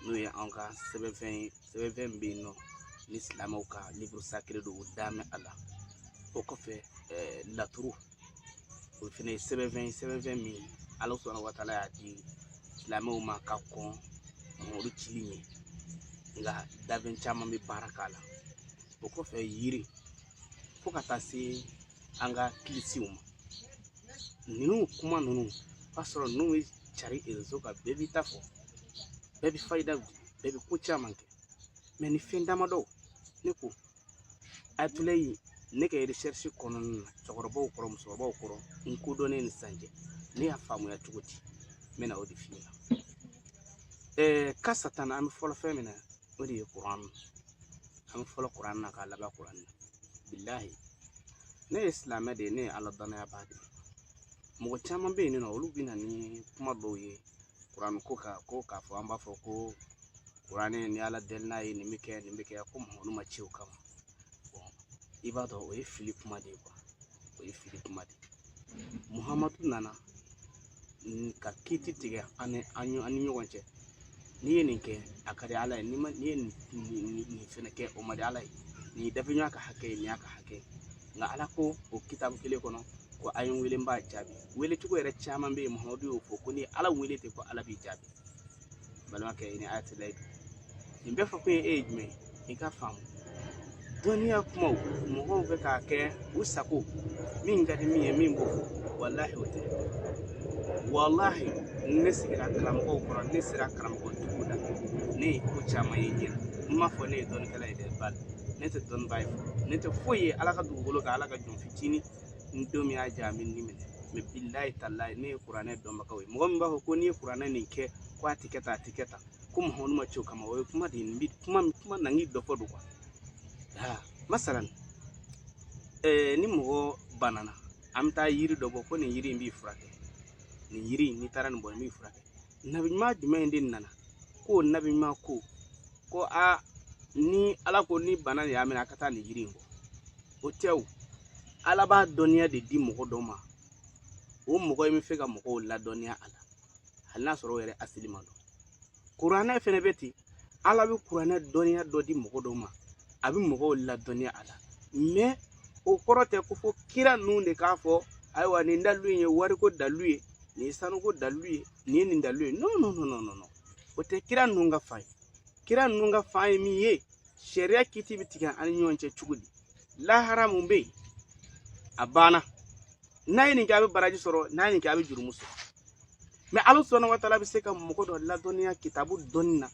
n'o ye an ka sɛbɛnfɛn ye sɛbɛnfɛn min bɛ yen nɔ ni silamɛw ka livre sacré don u da mɛn a la o kɔfɛ laturu o fana ye sɛbɛnfɛn ye sɛbɛnfɛn min ala subahanahu wa taala y'a di silamɛw ma ka kɔn muhamadu cili ɲɛ nka dabɛn caman bɛ baara k'a la o kɔfɛ yiri fo ka taa se an ka kilisiw ma ninnu kuma ninnu b'a sɔrɔ n'u bɛ cari réseau kan bɛɛ b'i ta fɔ bɛɛ bɛ fayida di bɛɛ bɛ ko caman kɛ mais ni fɛn damadɔw ne ko ayatulayi ne ka recherche kɔnɔna na cɛkɔrɔbaw kɔrɔ musokɔrɔbaw kɔrɔ n kodɔnnen ni sisan cɛ ne y'a faamuya cogo di n bɛna o de f'i ɲɛna ɛɛ ka satana an bɛ fɔlɔ fɛn min na o de ye kuran an bɛ fɔlɔ kuran na k'a laban kuran na bilahi ne ye silamɛ de ye ne ye ala danaya ba de ye mɔgɔ caman bɛ yen nɔ olu bɛ na ni kuma dɔw ye kuran ko ka ko k'a fɔ an b'a fɔ ko kuranɛ ni ala deli n'a ye nin bɛ kɛ nin bɛ kɛ ko muhamadu ma ci o kama i b'a dɔn o ye fili kuma de ye o ye fili kuma de ye muhamadu nana ka kiti tigɛ an ni an ni an ni ɲɔgɔn cɛ n'i ye nin kɛ a ka di ala ye n'i ma n'i ye nin nin fɛnɛ kɛ o man di ala ye nin ye dafɛɲɔgɔn ka hakɛ ye nin y'a ka hakɛ ye nka ala ko o kitabu kelen kɔnɔ ko a ye n wele n b'a jaabi wele cogo yɛrɛ caman bɛ yen muhamadu y'o fɔ ko ni ala wele ten ko ala b'i jaabi balimakɛ ne ayatulayi nin bɛɛ fɔ kun ye e ye jumɛn ye i ka faamu dɔnniya kumaw mɔgɔw bɛ k'a kɛ u sago min ka di min ye min b'o fɔ walahi o tɛ walahi ne sigira karamɔgɔw kɔrɔ ne sera karamɔgɔ dugu la ne ye ko caman ye ɲɛ na n m'a fɔ ne ye dɔnnikɛla ye dɛ bali ne tɛ dɔnnibaa ye ne tɛ foyi ye ala ka dugukolo kan ala ka jɔn fitinin n don min y'a ja a bɛ ni minɛ mais bilahi talahi ne ye kuranɛ dɔnbagaw ye mɔgɔ min b'a fɔ ko n'i ye kuranɛ nin kɛ ko a tɛ kɛ tan a tɛ kɛ tan ko muhamadu ma ci o kama o ye kuma de ye bi kuma kuma na n'i dɔ fɔ don aa masalan ɛɛ ni mɔgɔ banana an bɛ taa yiri dɔ bɔ ko nin yiri in b'i furakɛ nin yiri in n'i taara nin bɔ nin b'i furakɛ nabi ɲuman jumɛn de nana ko nabi ɲuman ko ko a ni ala ko ni bana de y'a minɛ a ka taa nin yiri in bɔ o tɛ o ala b'a dɔnniya de di mɔgɔ dɔ ma o mɔgɔ in bɛ fɛ ka mɔgɔw ladɔnniya a la hali n'a sɔrɔ o yɛrɛ asili ma dɔn kuranɛ fɛnɛ bɛ ten ala bɛ kuranɛ dɔnniya dɔ di mɔgɔ dɔ ma a bɛ mɔgɔw ladɔnniya a la mais o kɔrɔ tɛ ko fo kira ninnu de k'a fɔ ayiwa nin dalu in ye wariko dalu ye nin ye sanuko dalu ye nin ye nin dalu ye non non non non non o tɛ kira ninnu ka fan ye kira ninnu ka fan ye min ye sariya kiti bɛ tigɛ an ni ɲɔgɔn cɛ cogo di lahara mun bɛ yen a banna n'a ye nin kɛ a bɛ baraji sɔrɔ n'a ye nin kɛ a bɛ jurumu sɔrɔ mɛ ala subahana wa taala bɛ se ka mɔgɔ dɔ ladɔnniya kitabu dɔnni na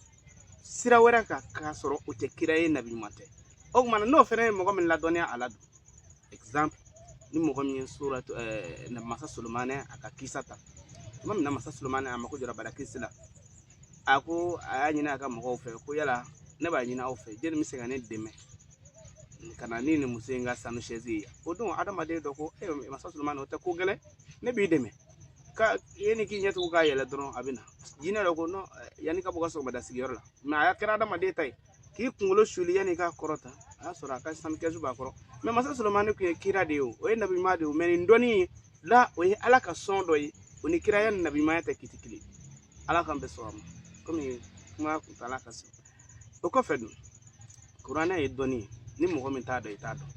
sira wɛrɛ kan k'a sɔrɔ o tɛ kira ye nabi ɲuman tɛ o tuma n'o fana ye mɔgɔ min ladɔnniya ala don exemple ni mɔgɔ min ye sora ɛɛ masa solomani a ka kisa ta tuma min na masa solomani a mako jɔra barakisi la a ko a y'a ɲini a ka mɔgɔw fɛ ko yala ne b'a ɲini aw fɛ jɛni bɛ se ka ne dɛmɛ ka na ni nin muso in ka sanu sɛzi ye o don adamaden dɔ ko e masa sulumani o tɛ ko gɛlɛn ne b'i dɛmɛ ko yanni k'i ɲɛtugu k'a yɛlɛ dɔrɔn a bɛ na jinɛ dɔ ko yanni i ka bɔ i ka sɔgɔmada sigiyɔrɔ la mɛ a kɛra adamaden ta ye k'i kunkolo suli yanni i k'a kɔrɔta a y'a sɔrɔ a ka sanu kɛsu b'a kɔrɔ mɛ masa solomani tun ye kira de ye o ye nabiɲuman de ye mɛ nin dɔnniya la o ye ala ka sɔn dɔ ye o ni kiraya ni nabiɲumanya tɛ kiti kelen ala k'an bɛɛ sɔn a ma kɔmi kuma kuntala ka se o kɔfɛ dun kuranɛ ye dɔnni ye ni mɔgɔ min t'a dɔn i t'a dɔn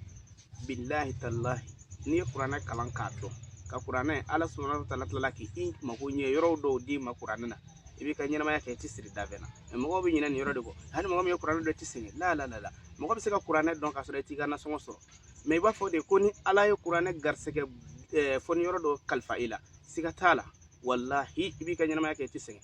bilahi talahi n'i ye kuranɛ kalan k'a dɔn ka kuranɛ ala subahana wa taala tilala k'i mako ɲɛ yɔrɔw dɔw d'i ma kuranɛ na i b'i ka ɲɛnamaya kɛ i tɛ siri da bɛɛ na mɛ mɔgɔw bɛ ɲinɛ nin yɔrɔ de kɔ hali mɔgɔ min ye kuranɛ dɔn i tɛ sɛgɛn la la la la mɔgɔ bɛ se ka kuranɛ dɔn k'a sɔrɔ i t'i ka nasɔngɔ sɔrɔ mɛ i b'a fɔ de ko ni ala ye kuranɛ garisɛgɛ fɔ ni yɔrɔ dɔ kalifa i la siga t'a la walahi i b'i ka ɲɛnamaya kɛ i tɛ sɛgɛn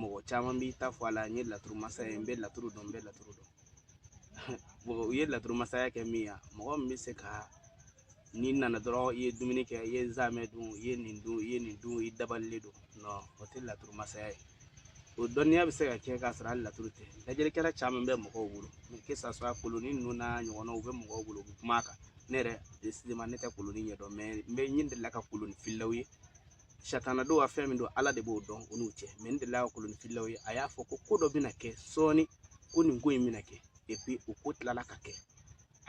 mɔgɔ caman b'i ta fɔ a la n ye laturu masa ye n bɛ laturu dɔn n bɛ laturu dɔn u ye laturu masaya kɛ min ye mɔgɔ min bɛ se ka n'i nana dɔrɔn i ye dumuni kɛ i ye zamɛ dun i ye nin dun i ye nin dun i dabalilen don o tɛ laturu masaya ye o dɔnniya bɛ se ka kɛ k'a sɔrɔ hali laturu tɛ lajɛlikɛla caman bɛ mɔgɔw bolo que ça soit koloni ninnu n'a ɲɔgɔnnaw u bɛ mɔgɔw bolo u bɛ kuma a kan ne yɛrɛ ne tɛ koloni ɲɛdɔn mɛ n bɛ n delila ka koloni fililaw ye satana don wa fɛn min don ala de b'o dɔn u n'u cɛ mɛ n delila ka kolonifililaw ye a y'a fɔ ko ko dɔ bɛna kɛ sɔɔni ko nin ko in bɛna kɛ epi o ko tilala ka kɛ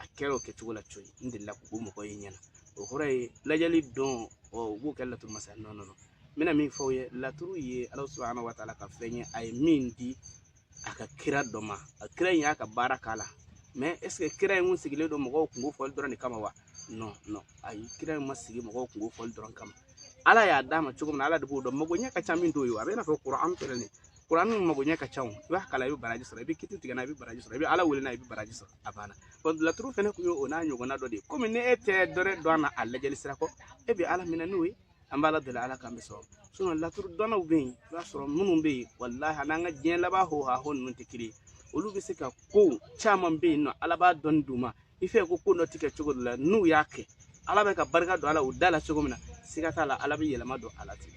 a kɛra o kɛcogo la coyi n delila k'o mɔgɔ ye ɲɛna o kɔrɔ ye lajɛli don ɔ u b'o kɛ laturu masaya nɔ nɔ n bɛna min fɔ aw ye laturu ye ala subahana wa taala ka fɛn ye a ye min di a ka kira dɔ ma a kira in y'a ka baara k'a la mɛ ɛseke kira in kun sigilen don mɔgɔw kunko fɔli dɔrɔn de kama wa non non ayi kira in ma sigi mɔgɔw kunko fɔli dɔrɔn kama ala y'a d'a ma cogo min na ala de b'o dɔn mago ɲɛ ka ca min t'o ye a bɛ n'a fɔ kuranɛ filɛ nin kuranɛ min mago ɲɛ ka ca o i b'a kalan i bɛ baraji sɔrɔ i bɛ kiti tigɛ n'a i bɛ baraji sɔrɔ i bɛ ala wele n'a i bɛ baraji sɔrɔ a banna bon laturu fana tun ye o n'a ɲɔgɔnna dɔ de ye komi ni e tɛ dɔwɛrɛ dɔn a la a lajɛli sira kɔ e bɛ ala minɛ n'o ye an b'ala deli ala k'an bɛɛ sɔrɔ sinɔn laturu dɔnnaw bɛ yen i b'a sɔrɔ minnu bɛ yen walahi a n'an ka diɲɛ laban ho ha ho ninnu tɛ kelen ye olu bɛ se ka ko caman bɛ yen nɔ ala b'a dɔnni d'u ma i fɛ ko ko dɔ tigɛ cogo dɔ la n'u y'a kɛ ala b'a ka barika don a la u da la cogo min na siga t'a la ala bɛ yɛlɛma don a la ten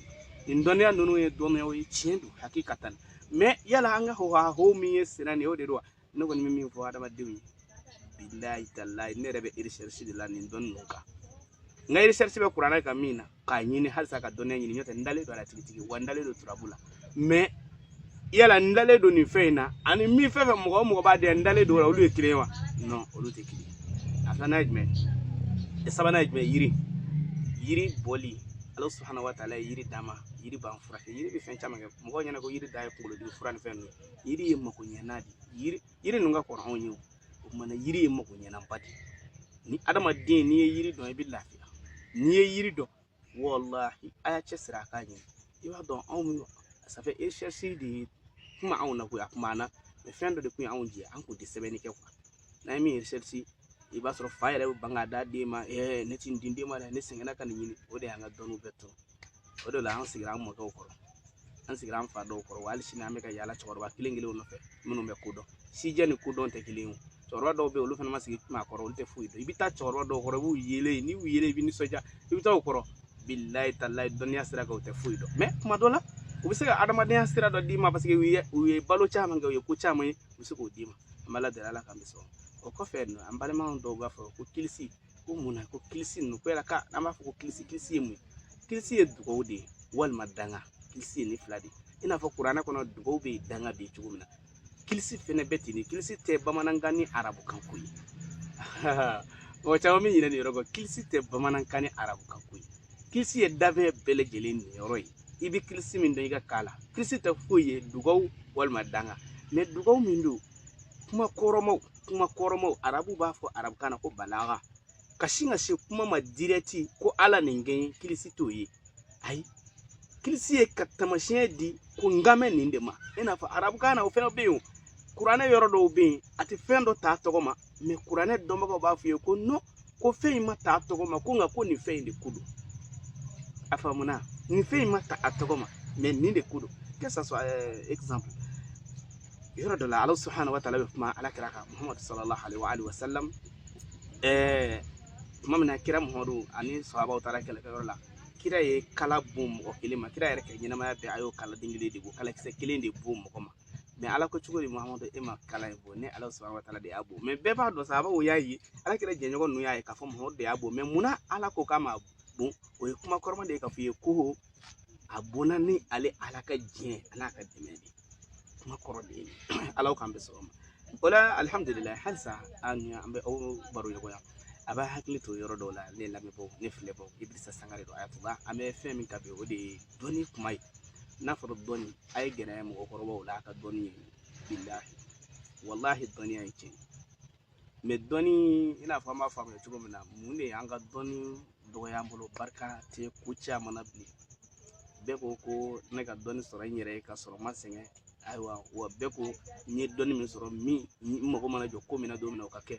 nin dɔnniya ninnu ye dɔnniyaw ye tiɲɛ don hakikatan mɛ yala an ka ho ha ho min ye senna nin ye o de don wa ne kɔni bɛ min fɔ adamadenw ye bilayi talayi ne yɛrɛ bɛ eresɛrisi de la nin dɔnni ninnu kan n ka eresɛrisi bɛ kuranɛ kan min na k'a ɲini halisa ka dɔnniya ɲini n'o tɛ n dalen don a la tigitigi wa n dalen don turabu la mɛ yala n dalen don nin fɛn in na ani min fɛn fɛn mɔgɔ o mɔgɔ b'a dɔn n dalen don o la olu ye kelen ye wa non olu tɛ kelen ye a filanan ye jumɛn ye sabanan ye jumɛn yiri yiri bɔli ala subahana wa taala ye yiri d'an ma yiri b'an furakɛ yiri bɛ fɛn caman kɛ mɔgɔw ɲɛna ko yiri dan ye kunkolodimi fura ni fɛn ninnu yiri ye mako ɲɛna de yiri yiri ninnu ka kɔrɔ anw ye o kamana yiri ye mako ɲɛnaba de ni adamaden n'i ye yiri dɔn i bɛ lafiya n'i ye yiri dɔn walahi a y'a cɛsiri a k'a ɲini i b'a dɔn anw bɛ safɛ eresɛrisi de ye kuma anw na koyi a kuma na mɛ fɛn dɔ de kun ye anw jɛ an kun tɛ sɛbɛnni kɛ kuwa n'an ye min eresɛrisi i b'a sɔrɔ fa yɛrɛ bɛ ban k'a d'a den ma ɛɛ ne ti n di den ma dɛ ne sɛgɛnna ka nin ɲini o de y'an ka dɔnniw bɛɛ tɔɔrɔ o de la an sigira an mɔkɛw kɔrɔ an sigira an fa dɔw kɔrɔ wa hali sini an bɛ ka yaala cɛkɔrɔba kelen kelenw nɔfɛ minnu bɛ ko dɔn sijɛ ni kodɔn tɛ kelen ye cɛkɔrɔba dɔw bɛ yen olu fana ma sigi maa kɔrɔ olu tɛ foyi dɔn i bɛ taa cɛkɔrɔba dɔw kɔrɔ i b'u yelen n'i y'u yelen i bɛ nisɔndiya i bɛ taa o kɔrɔ bilayi talayi dɔnniya sira kan u tɛ foyi dɔn mɛ kuma dɔ la u bɛ se ka adamadenya sira dɔ d'i ma paseke u ye u ye balo caman kɛ u ye ko caman ye u bɛ se k'o d'i ma an b'ala deli ala k'an bɛɛ sɔn o kɔfɛ an balimaw dɔw b'a fɔ ko kilisi ko mun na ko kilisi ninnu ko yala ka an b'a fɔ ko kilisi kilisi ye mun ye kilisi ye dugawu de ye walima danga kilisi ye nin fila de ye i n'a fɔ kuranɛ kɔnɔ dugawu bɛ yen danga bɛ yen cogo min na kilisi fɛnɛ bɛ ten de kilisi tɛ bamanankan ni arabukan ko ye mɔgɔ caman bɛ ɲinɛ nin yɔrɔ kɔ kilisi tɛ bamanankan ni arabukan ko ye kilisi ye dafɛn bɛɛ lajɛlen niyɔrɔ ye i bɛ kilisi min dɔn i ka kan na kilisi tɛ foyi ye dugawu walima danga mɛ dugawu min don kuma kɔrɔmaw kuma kɔrɔmaw arabu b'a fɔ arabukan na ko balaga ka sin ka se kuma ma dirɛti ko ala nin kɛ kilisi t'o ye ayi kilisi ye ka tamasiyɛn di ko n kan bɛ nin de ma i n'a fɔ arabukan na o fɛnɛ bɛ yen kuranɛ yɔrɔ dɔw bɛ yen a tɛ fɛn dɔ t'a tɔgɔ ma mɛ kuranɛ dɔnbagaw b'a f'i ye ko nɔn ko fɛn in ma ta a tɔgɔ ma ko nka ko nin fɛn in de ko don a faamuna nin fɛn in ma ta a tɔgɔ ma mɛ nin de ko don que ça soit euh, exemple yɔrɔ dɔ la ala subhanahu wa taala bɛ kuma ala kira kan muhamadu sallallahu alaihi wa alihi wa sallam ɛɛ tuma min na kira muhamadu ani sahabaw taara kɛlɛkɛyɔrɔ la kira ye kala bon mɔgɔ kelen ma kira yɛrɛ ka ɲɛnamaya bɛɛ a y'o kala den kelen de bon kalakisɛ kelen de bon mɔgɔ ma mɛ ala ko cogo di mahamadu e ma kala in bon ne ala subahanahu wa taala de y'a bon mɛ bɛɛ b'a dɔn sahabaw y'a ye ala kira jɛɲɔgɔn ninnu y'a ye k'a fɔ mahamadu de y'a bon mɛ munna ala ko k'a ma bon o ye kuma kɔrɔma de ye k'a fɔ i ye ko a bonna ni ale ala ka diɲɛ an'a ka dɛmɛ de kuma kɔrɔ de ye ala k'an bɛɛ sɔgɔma o la alihamudulila halisa an bɛ aw baro ɲɔgɔnya a b'a hakili to yɔrɔ dɔw la ne lamɛnbaw ne filɛbaw idirisa sangare don ayatuba an bɛ fɛn min kan bi o de ye dɔnni kuma ye n'a fɔra dɔnni a ye gɛrɛ mɔgɔkɔrɔbaw la a ka dɔnni ye bilahi walahi dɔnniya ye tiɲɛ mɛ dɔnni i n'a fɔ an b'a faamuya cogo min na mun de y'an ka dɔnni dɔgɔya an bolo barika tɛ ko caman na bilen bɛɛ ko ko ne ka dɔnni sɔrɔ n yɛrɛ ye ka sɔrɔ n ma sɛgɛn ayiwa wa bɛɛ ko n ye dɔnni min sɔrɔ min n mago mana jɔ ko min na don min na o ka kɛ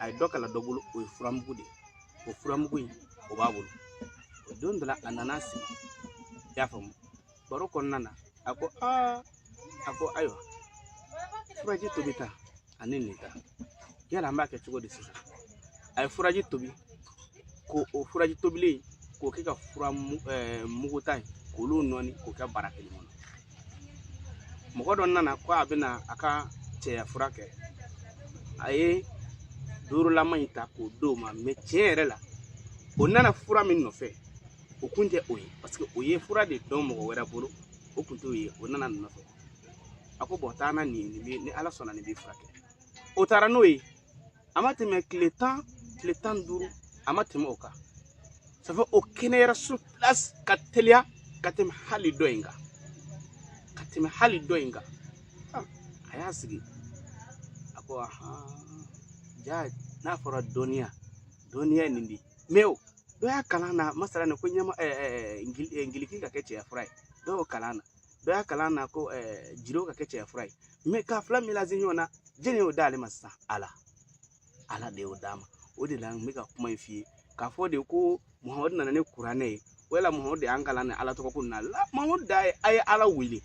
a ye dɔ kalan dɔ bolo o ye furamugu de ye o furamugu in o b'a bolo o don dɔ la a nana sigi i y'a faamu baro kɔnɔna na a ko aa a ko ayiwa furaji tobita ani nin ta yala an b'a kɛ cogo di sisan a ye furaji tobi ko o furaji tobilen k'o kɛ ka furamugu ta ye k'olu nɔɔni k'o kɛ bara kelen kɔnɔ mɔgɔ dɔ nana ko a bɛna a ka cɛya fura kɛ a ye duurulama in ta k'o d'o ma mɛ tiɲɛ yɛrɛ la o nana fura min nɔfɛ o kun tɛ o ye paseke o ye fura de dɔn mɔgɔ wɛrɛ bolo o kun t'o ye o nana nin nɔfɛ a ko bɔn taa na nin nin bɛ ni ala sɔnna nin b'i furakɛ o taara n'o ye a ma tɛmɛ tile tan tile tan ni duuru a ma tɛmɛ o kan sabu o kɛnɛyara sur place ka teliya ka tɛmɛ hali dɔ in kan ka tɛmɛ hali dɔ in kan a y'a sigi a ko jaa n'a fɔra dɔnniya dɔnniya nin de mɛ o dɔ y'a kalan na masala nin ko ɲɛma ngiliki ka kɛ cɛya fura ye dɔ y'o kalan na dɔ y'a kalan na ko jiro ka kɛ cɛya fura ye k'a fila melanze ɲɔgɔn na jɛnɛ y'o d'ale ma sisan ala ala de y'o d'a ma o de la n bɛ ka kuma in f'i ye k'a fɔ de ko muhamadu nana ni kuranɛ ye wala muhamadu de y'an kalan ni ala tɔgɔ ko na la muhamadu da ye a ye ala wele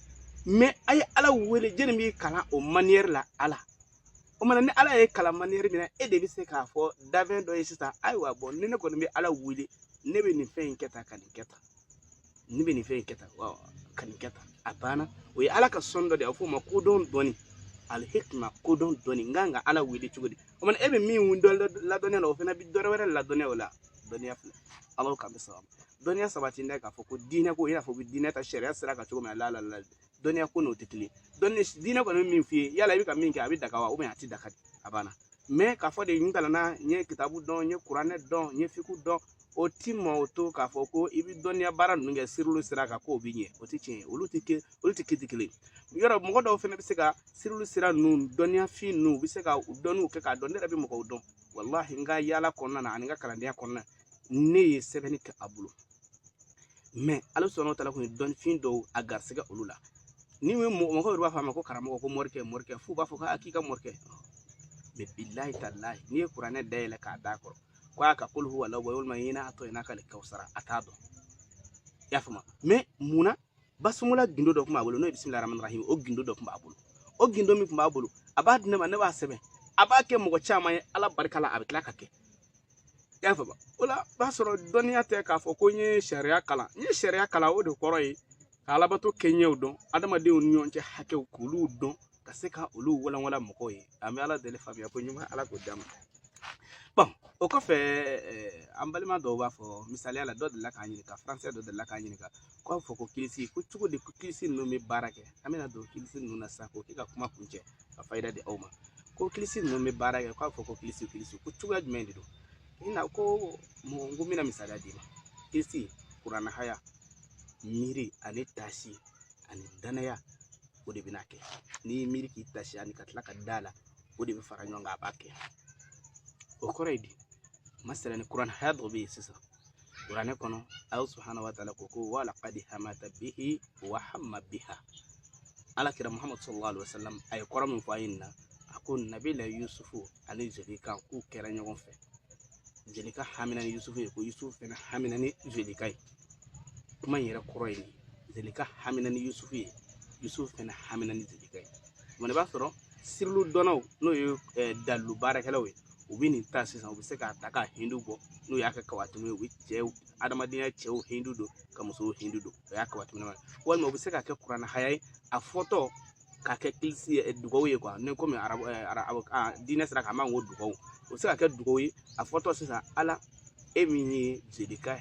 mɛ a ye ala wele jɛnɛ b'i kalan o maniyɛri la ala o mana ni ala y'i kalan maniyɛri min na e de bɛ se k'a fɔ dafɛn dɔ ye sisan ayiwa bɔn ni ne kɔni bɛ ala wele ne bɛ nin fɛn in kɛ tan ka nin kɛ tan ne bɛ nin fɛn in kɛ tan ka nin kɛ tan a banna o ye ala ka sɔn dɔ de ye a bɛ fɔ o ma kodɔn dɔɔni alihikima kodɔn dɔɔni n kan ka ala wele cogo di o mana e bɛ min dɔn ladɔnniya la o fana bɛ dɔ wɛrɛ ladɔnniya o la dɔnniya fila ala k'an bɛɛ sabati dɔnniya sabati n'a ye k'a fɔ ko diinɛ ko i n'a fɔ ko diinɛ ta sariya sira kan cogo min na la ladɔnniya ko n'o tɛ kelen dɔnni diinɛ kɔni bɛ min f'i ye yala i bɛ ka min kɛ a bɛ daga wa a tɛ daga a banna mɛ k'a fɔ de n kalanna n ye kitabu dɔn n ye kuranɛ dɔn n ye fiku dɔn o ti ma o to k'a fɔ ko i bɛ dɔnniya baara ninnu kɛ sirilu sira kan k'o bɛ ɲɛ o tɛ tiɲɛ ye olu tɛ ke olu tɛ kiti kelen yɔrɔ mɔgɔ dɔw fana bɛ se ka sirilu sira ninnu dɔnniyafin ninnu u bɛ se ka u dɔnniw kɛ k'a dɔn ne yɛrɛ bɛ mɔgɔw dɔn walahi n ka yaala kɔnɔna na ani n ka kalandenya kɔnɔna ne ye sɛbɛnni kɛ a bolo mɛ ala subaana wa taala kun ye dɔnnifin dɔw a garisɛgɛ olu la ni mɔgɔ mɔgɔ yɛrɛ b'a fɔ a ma ko karamɔgɔ ko morikɛ morikɛ f'u b'a fɔ k'a k'i ka morikɛ mɛ bilahi talahi n'i ye kuranɛ dayɛlɛ k'a d'a kɔrɔ ko a ka kul huwa allahu walima inna ataina kal kawusara a t'a dɔn i y'a faamu mais mun na basumala gindo dɔ tun b'a bolo n'o ye bisimila ramani rahimi o gindo dɔ tun b'a bolo o gindo min tun b'a bolo a b'a di ne ma ne b'a sɛbɛn a b'a kɛ mɔgɔ caman ye ala barika la a bɛ tila ka kɛ i y'a faamu o la b'a sɔrɔ dɔnniya tɛ k'a fɔ ko n ye sariya kalan n ye sariya kalan o de kɔrɔ ye ka alabato kɛɲɛw dɔn adamadenw ni ɲɔgɔn cɛ hakɛw k'olu dɔn ka se ka olu walanwalan mɔgɔw ye an bɛ ala deli faamuya ko ɲuman ala k'o d'an ma bon o kɔfɛ eh, an balima dɔw b'a fɔ misaliya la dɔ delila k'an ɲininka faransɛ dɔ delila k'an ɲininka ko a fɔ ko kilisi ko cogo di ko kilisi ninnu bɛ baara kɛ an bɛna don kilisi ninnu na sisan k'o kɛ ka kuma kuncɛ ka fayida di aw ma ko kilisi ninnu bɛ baara kɛ k'a fɔ ko kilisi kilisi ko cogoya jumɛn de don i na ko mɔgɔ n ko n bɛna misaliya d'i ma kilisi kuranahaya miiri ani taasi ani danaya o de bɛna kɛ n'i ye miiri k'i taasi ani ka tila ka da la o de bɛ fara ɲɔgɔn kan a b'a kɛ o kɔrɔ ye di masala ni kuran haya dɔ bɛ yen sisan kuranɛ kɔnɔ ala subahana wa taala ko ko wala kadi hamata bihi wa hamma biha ala kira muhammadu sallallahu alaihi wa sallam a ye kɔrɔ min fɔ aya nin na a ko nabila yusufu ani zelika k'u kɛra ɲɔgɔn fɛ zelika hamina ni yusufu ye ko yusufu fana hamina ni zelika ye kuma in yɛrɛ kɔrɔ ye zelika hamina ni yusufu ye yusufu fɛnɛ hamina ni zelika ye kuma i b'a sɔrɔ sirilu dɔnnaw n'o ye eh, dalilu baarakɛlaw ye u bɛ nin ta sisan u bɛ se k'a ta ka hindu bɔ n'u y'a kɛ kawatimu ye u bɛ cɛw adamadenya cɛw hindu don ka musow hindu don o y'a kawatimu ye walima u bɛ se k'a kɛ kuranahaya ye a fɔtɔ k'a kɛ dugawu ye quoi ne komi arabu arabu diinɛ sira kan an b'a fɔ ko dugawu o bɛ se ka kɛ dugawu ye a fɔtɔ sisan ala e min ye zelika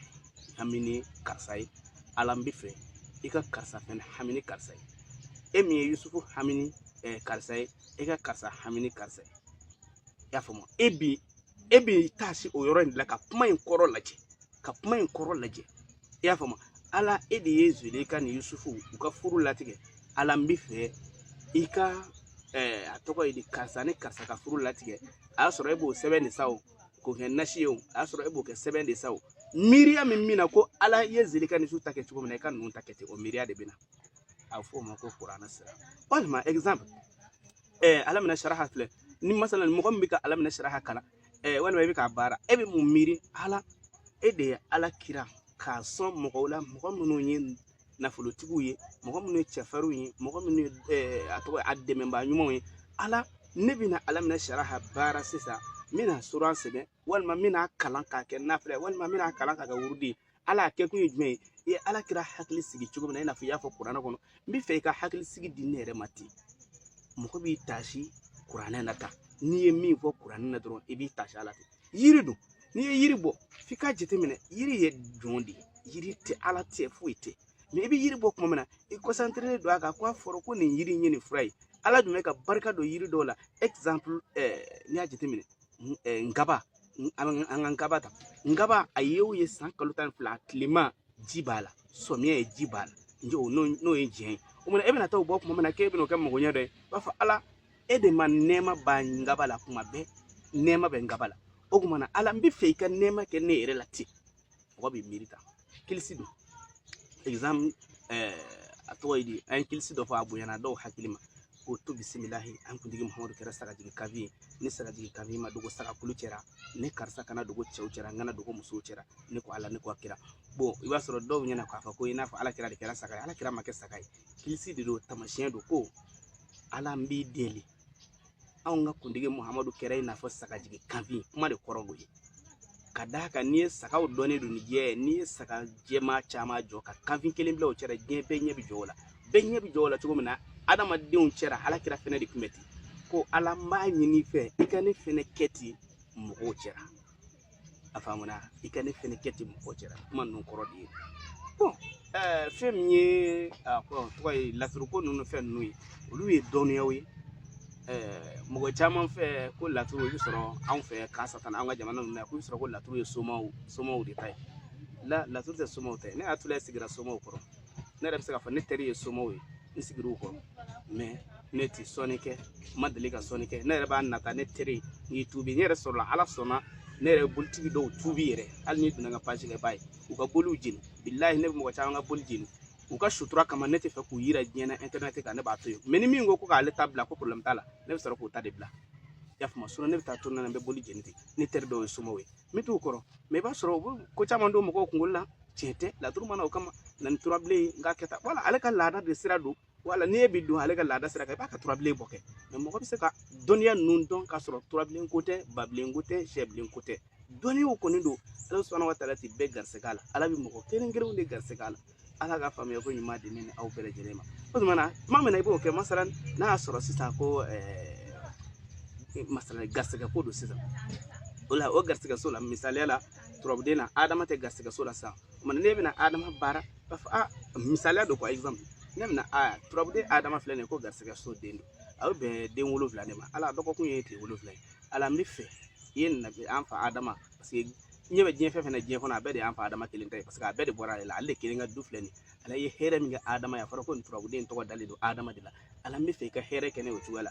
hami ni karisa ye ala n bɛ fɛ i ka karisa fɛnɛ hami ni karisa ye e min ye yusufu hami ni karisa ye e ka karisa hami ni karisa ye i y'a faamu e bi e bi taa se o yɔrɔ in de la ka kuma in kɔrɔ lajɛ ka kuma in kɔrɔ lajɛ i y'a faamu ala e de ye zelika ni yusufu u ka furu latigɛ ala n bɛ fɛ i ka eh, a tɔgɔ ye di karisa ni karisa ka furu latigɛ a y'a sɔrɔ e b'o sɛbɛn de sa o k'o kɛ nasi ye o a y'a sɔrɔ e b'o kɛ sɛbɛn de sa o miiriya min bɛ na ko ala ye zelika ni yusufu ta kɛ cogo min na i ka ninnu ta kɛ ten o miiriya de bɛ na a bɛ fɔ o ma ko kuranɛ sira walima exemple eh, alam nasaraha filɛ ni masalan mɔgɔ min bɛ ka alam nasaraha kalan eh, walima i bɛ k'a baara e bɛ mun miiri ala e de ye ala kira k'a sɔn mɔgɔw la mɔgɔ minnu ye nafolotigiw ye mɔgɔ minnu ye cɛfarinw ye mɔgɔ minnu ye eh, a tɔgɔ a dɛmɛbaa ɲumanw ye ala ne bɛna alam nasaraha baara sisan n bɛna suran sɛbɛn walima n bɛna kalan k'a kɛ nafila ye walima n bɛna kalan k'a kɛ wurudi ye ala a kɛkun ye jumɛn ye i ye ala kira hakili sigi cogo min na i n'a fɔ i y'a fɔ kuranɛ kɔnɔ n bɛ fɛ i ka hakili sigi di ne yɛrɛ ma ten mɔgɔ b'i taasi kuranɛ na tan n'i ye min fɔ kuranɛ na dɔrɔn i b'i taasi a la ten yiri don n'i ye yiri bɔ f'i k'a jateminɛ yiri ye jɔn de ye yiri tɛ ala tɛ foyi tɛ mɛ i bɛ yiri bɔ tuma min na i kɔsanterelen don a kan ko a fɔra ko nin yiri in ye nin fura ye ala dun bɛ ka barika don yiri dɔw la exemple ɛɛ n'i y'a jateminɛ nkaba an ka nkaba ta nkaba a ye o ye san kalo tan ni fila tilema ji b'a la samiya ye ji b'a la n'o ye diɲɛ ye o kuma na e bɛna taa o bɔ kuma min na k'e bɛna o kɛ magoɲɛ dɔ ye i b'a fɔ ala e de ma nɛɛma ban nkaba la kuma bɛɛ nɛɛma bɛ nkaba la o kuma na ala n bɛ fɛ i ka nɛɛma kɛ ne yɛrɛ la ten mɔgɔ bɛ miiri tan kilisi don exemple eh, a tɔgɔ ye di an ye kilisi dɔ fɔ a bonyana dɔw hakili ma k'o to bisimilahi an kuntigi muhamadu kɛra sagajigi kanfin ye ni sagajigi kanfin ma dogo sagakulu cɛra ne karisa kana dogo cɛw cɛra n kana dogo musow cɛra ne ko ala ne ko a kira bon i b'a sɔrɔ dɔw ɲɛna k'a fɔ ko i n'a fɔ ala kira de kɛra saga ye ala kira ma kɛ saga ye kilisi de don tamasiyɛn don ko ala n b'i deli anw ka kuntigi muhamadu kɛra i n'a fɔ sagajigi kanfin kuma de kɔrɔ b'o ye ka d'a kan n'i ye sagaw dɔnnen don ni jɛ ye n'i ye saga jɛma caman jɔ ka kanfin kelen bila u cɛra diɲɛ bɛɛ ɲɛ bi jɔ o la bɛɛ ɲɛ bi jɔ o la cogo min na adamadenw cɛra ala kira fɛnɛ de kun bɛ ten ko ala n b'a ɲin'i fɛ i ka ne fɛnɛ kɛ ten mɔgɔw cɛra a faamuna i ka ne fɛnɛ kɛ ten mɔgɔw cɛra kuma ninnu kɔrɔ de ye bon eh, fɛn min ye a tɔgɔ ye laturuko ninnu fɛn ninnu ye olu ye dɔnniyaw ye eh, mɔgɔ caman fɛ ko laturu i bɛ sɔrɔ anw fɛ kasatan an ka jamana ninnu na ko i bɛ sɔrɔ ko laturu ye somaw somaw de ta ye la laturu tɛ somaw ta ye ne hakili sigira somaw kɔrɔ ne yɛrɛ bɛ se k'a fɔ ne teri ye somaw ye n sigir'u kɔrɔ mɛ ne tɛ sɔnni kɛ n ma deli ka sɔnni kɛ ne yɛrɛ b'a nata ne teri n y'i tuubi n yɛrɛ sɔrɔla ala sɔnna ne yɛrɛ bolitigi dɔw tuubi yɛrɛ hali n'i donna n ka page kan i b'a ye u ka boliw jeni bilahi ne bɛ mɔgɔ caman ka boli jeni u ka sutura kama ne tɛ fɛ k'u yira diɲɛ na intɛrɛnɛti kan ne b'a to yen mɛ ni min ko ko k'ale ta bila ko problème t'a la ne bɛ sɔrɔ k'o ta de bila i y'a faamu ne bɛ taa to na n bɛ boli jeni ten ne teri dɔw ye somaw ye n bɛ t'u kɔrɔ mɛ i b'a sɔrɔ u bɛ ko caman don mɔgɔw kunkolo la tiɲɛ tɛ laturu ma na o kama na ni turabilen ye n k'a kɛ tan wala ale ka laada de sira don wala n'e bɛ don ale ka laada sira kan i b'a ka turabilen bɔ kɛ mɛ mɔgɔ bɛ se ka dɔnniya ninnu dɔn k'a sɔrɔ turabilen ko tɛ babilen ko tɛ sɛbilen ko tɛ dɔnniyaw kɔni don ala subaana wa taala tɛ bɛɛ garisɛgɛ la ala bɛ mɔgɔ kelen kelenw de garisɛgɛ la ala ka faamuya ko ɲuman di ne ni aw bɛɛ lajɛlen ma o tuma na tuma min na i b'o kɛ masalan n'a y'a sɔrɔ sisan ko eh, masalan garisɛgɛ ko don sisan o la o garisɛgɛso la misaliya la turabuden na adama tɛ garisɛgɛso la sisan o tuma na ne bɛna adama baara b'a fɔ ah misaliya don quoi exemple ne bɛna a turabuden adama filɛ nin ye ko garisɛgɛso den don a bɛ bɛn den wolonwula de ma ala dɔgɔkun ye tile wolonwula ye ala n bɛ fɛ i ye nabi an fa adama paseke ɲɛ bɛ diɲɛ fɛn fɛn na diɲɛ kɔnɔ a bɛɛ de y'an fa adama kelen ta ye paseke a bɛɛ de bɔra ale la ale de kelen ka du filɛ nin ye ala ye hɛrɛ min kɛ adama ye a fɔra ko nin turabuden tɔgɔ dalen don adama de la ala n b'a fɛ i ka hɛrɛ kɛ n ye o cogoya la